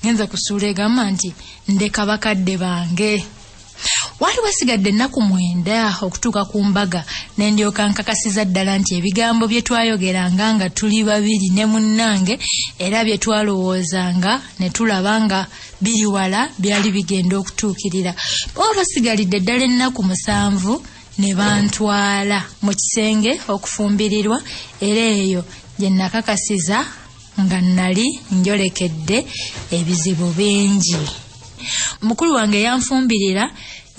genza kusuula egamba nti ndeka bakadde bange waali wasigadde ennaku mwenda okutuuka ku mbaga ne ndyoka nkakasiza ddala nti ebigambo bye twayogeranga nga tuli babiri ne munnange era bye twalowoozanga ne tulaba nga biri wala byali bigenda okutuukirira baba basigalidde ddala ennaku musanvu ne bantwala mu kisenge okufumbirirwa era eyo gye nakakasiza nga nnali njolekedde ebizibu bingi mukulu wange yanfumbirira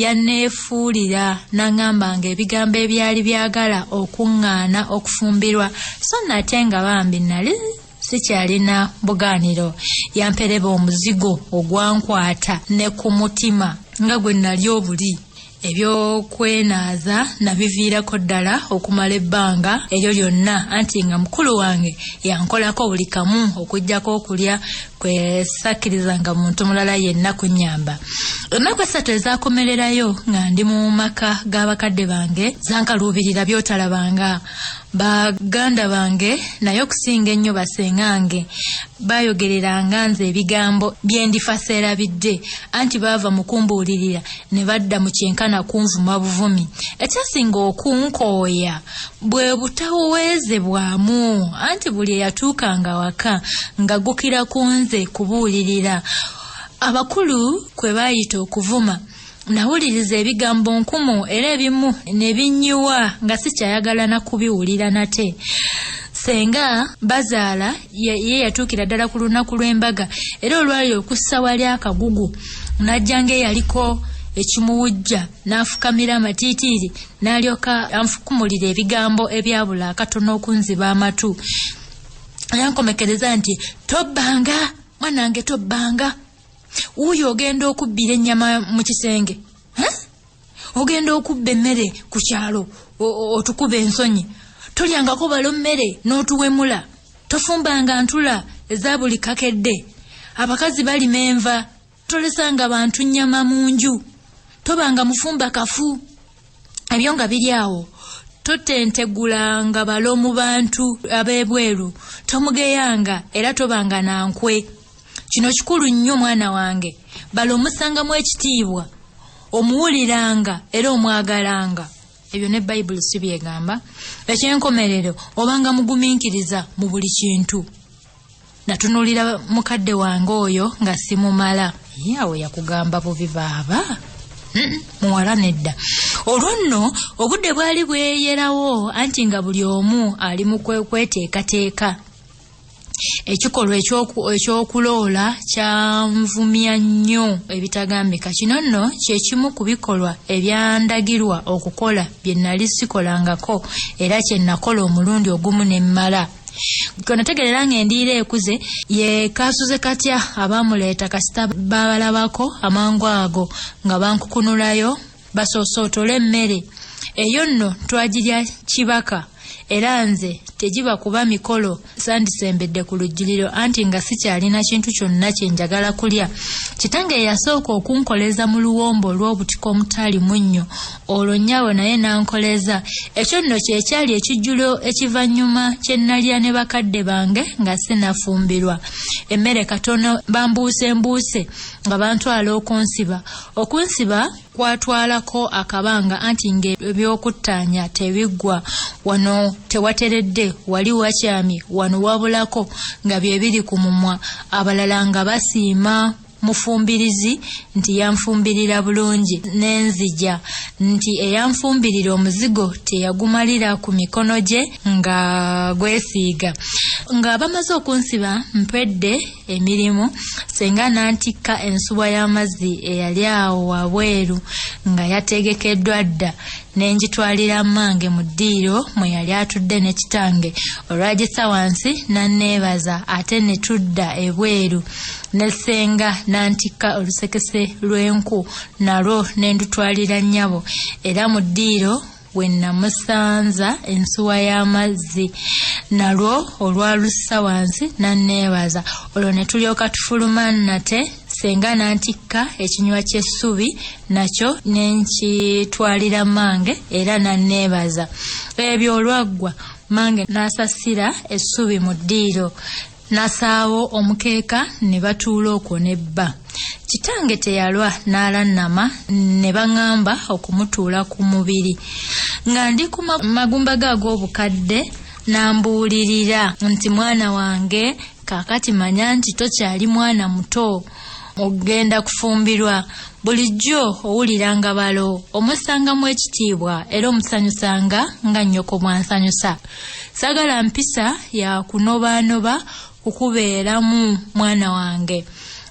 yanneefuulira n'aŋŋamba nga ebigambo ebyali byagala okuŋŋaana okufumbirwa so nate nga bambi nnali sikyalina bugaaniro yampereba omuzigo ogwankwata ne ku mutima nga gwe nali obuli ebyokwenaaza nabiviirako ddala okumala ebbanga eryo lyonna anti nga mukulu wange yankolako buli kamu okujjako okulya kwesakkirizanga muntu mulala yenna kunyamba ennaku essatu ezakomererayo nga ndi mu maka g'abakadde bange zankaluubirira byotalabanga Ba ganda bange naye okusinga ennyo basengange baayogereranga nze ebigambo bye ndifa seerabidde anti baava mu kumbuulirira ne badda mu kyenkana kunvuma buvumi. Ekyasinga okunkooya bwe butaweezebwamu anti buli eyatuukanga awaka ng'aggukira ku nze kubuulirira abakulu kwe baayita okuvuma. Nawuliriza ebigambo nkumu era ebimu ne binnyiwa nga sikyayagala na kubiwulira nate. Ssenga bazaala ye yatuukira ddala ku lunaku lw'embaga era olwali okussa wali akagugu n'ajja ng'eyaliko ekimuwujja n'afukamira amatiitiiri n'alyoka anfukumulira ebigambo ebyabula akatono okunziba amatu yankomekereza nti tobbanga mwanange tobbanga wuuyo ogenda okubbira ennyama mu kisenge ogenda okubba emmere ku kyalo otukuba ensonyi tolyangako balo mmere n'otuwemula tofumbanga ntula eza buli kakedde abakazi balima enva tolesanga bantu nnyama mu nju tobanga mufumba kafu ebyo nga biri awo totentegulanga balo mu bantu ab'ebweru tomugeyanga era tobanga na nkwe kino kikulu nnyo mwana wange balo omusangamu ekitiibwa omuwuliranga era omwagalanga ebyo ne bayibuli si byegamba ekyenkomerero obanga mugumiikiriza mu buli kintu natunulira mukadde wange oyo nga simumala ye awo yakugamba bubi baaba muwala nedda olwo nno obudde bwali bweyerawo anti nga buli omu ali mu kweteekateeka ekikolwa ekyokuloola kyanvumya nnyo ebitagambika kino nno kyekimu ku bikolwa ebyandagirwa okukola bye nali sikolangako era kye nakola omulundi ogumu ne mmala konotegerera nga endiira ekuze ye kasuze katya abaamuleeta kasita baabalabako amangu ago nga bankukunulayo basoosootole emmere eyo nno twagirya kibaka era nze tegiba kuba mikolo sandisembedde ku lujjuliro anti nga sikyalina kintu kyonna kye njagala kulya kitange yasooka okunkoleza mu luwombo olw'obutiko omutaali munnyo olwo nnyabo naye n'ankoleza ekyo nno kye kyali ekijjulo ekivannyuma kye nnalya ne bakadde bange nga sinafumbirwa emmere katono bambuuse mbuuse nga bantwala okunsiba okunsiba kwatwalako akabanga anti ng'ebyokuttaanya tebiggwa wano tewateredde wali wakyami wano wabulako nga bye biri ku mumwa abalala nga basiima mufumbirizi nti yanfumbirira bulungi nenzija nti eyanfumbirira omuzigo teyagumalira ku mikono gye nga gwesiiga nga bamaze okunsiba mpedde emirimu senga nantikka ensuwa y'amazzi eyali awo wabweru nga yategekeddwa dda ne ngitwalira mmange mu ddiiro mwe yali atudde ne kitange olwagisa wansi n'anneebaza ate ne tudda ebweru ne ssenga n'antikka olusekese lw'enku nalwo ne ndutwalira nnyabo era mu ddiiro we nnamusanza ensuwa y'amazzi nalwo olwalussa wansi n'anneebaza olwo ne tulyoka tufuluma nate Senga nantikka ekinywa ky'essubi nakyo ne nkitwalira mmange era n'anneebaza. Ebyo olwaggwa mmange n'asasira essubi mu ddiiro n'asaawo omukeeka ne batuula okwo ne bba. Kitange teyalwa n'alannama ne baŋŋamba okumutuula ku mubiri. Nga ndi ku magumba ge ag'obukadde n'ambuulirira nti mwana wange Kaakati manya nti tokyali mwana muto. Ogenda kufumbirwa. Bulijjo owuliranga balo, omussangamu ekitiibwa era omusanyusanga nga nnyoko bw'ansanyusa. Sagala mpisa ya kunobaanoba kukubeeramu mwana wange.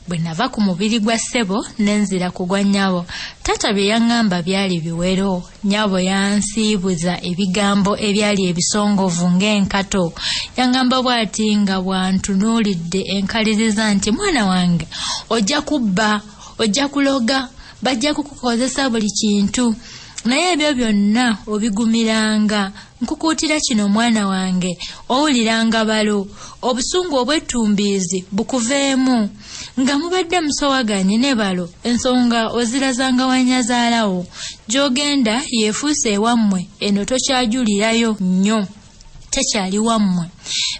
Bwe nava ku mubiri gwa ssebo ne nzira ku gwa nnyabo, taata bye yaŋŋamba byali biwero. Nyabo yansiibuza ebigambo ebyali ebisongovu ng'enkato. Yangamba bw'ati nga bw'antunuulidde enkaliriza nti mwana wange ojja kubba, ojja kuloga, bajja kukukozesa buli kintu naye ebyo byonna obigumiranga. Nkukuutira kino omwana wange, owulira nga balo, obusungu obwettumbiizi bukuveemu. Nga mubadde musowaganye ne balo, ensonga ozirazanga wa nnyazaala wo. Gy'ogenda yeefuuse ewammwe, eno tokyajulirayo nnyo. Tekyali wammwe.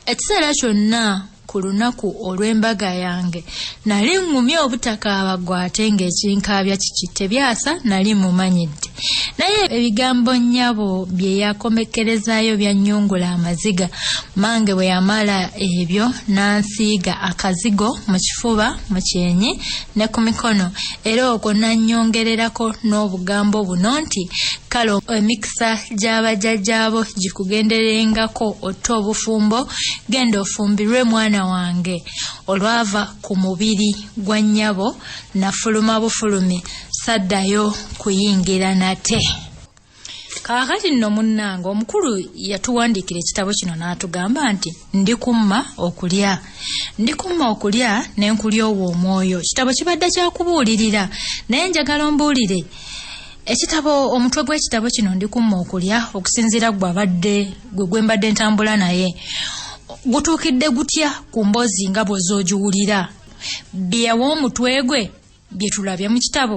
Ekiseera kyonna. ku lunaku olw'embaga yange nali ŋŋumye obutakaaba ggwe ate ng'ekinkaabya kiki tebyasa nali mumanyidde naye ebigambo nnyabo bye yakomekkerezaayo byannyungula amaziga mange bwe yamala ebyo n'ansiiga akazigo mu kifuba mu kyenyi ne ku mikono era okwo n'annyongererako n'obugambo buno nti kale emikisa emikisa gy'abajjajjaabo gikugenderengako otte obufumbo genda ofumbirwe mwana wange olwava ku mubiri gwa nnyabo nafuluma bufulumi saddayo kuyingira nate kaakati nno munnange omukulu yatuwandiikira ekitabo kino n'atugamba nti ndi kumma okulya ndi kumma okulya ne nkulya owo omwoyo kitabo kibadde kyakubuulirira naye njagala ombuulire Ekitabo omutwe gw'ekitabo kino ndi kumma okulya okusinziira gwe abadde gwe gwe mbadde ntambula naye gutuukidde gutya ku mboozi nga bw'oza ogiwulira byewa omutwe gwe bye tulabye mu kitabo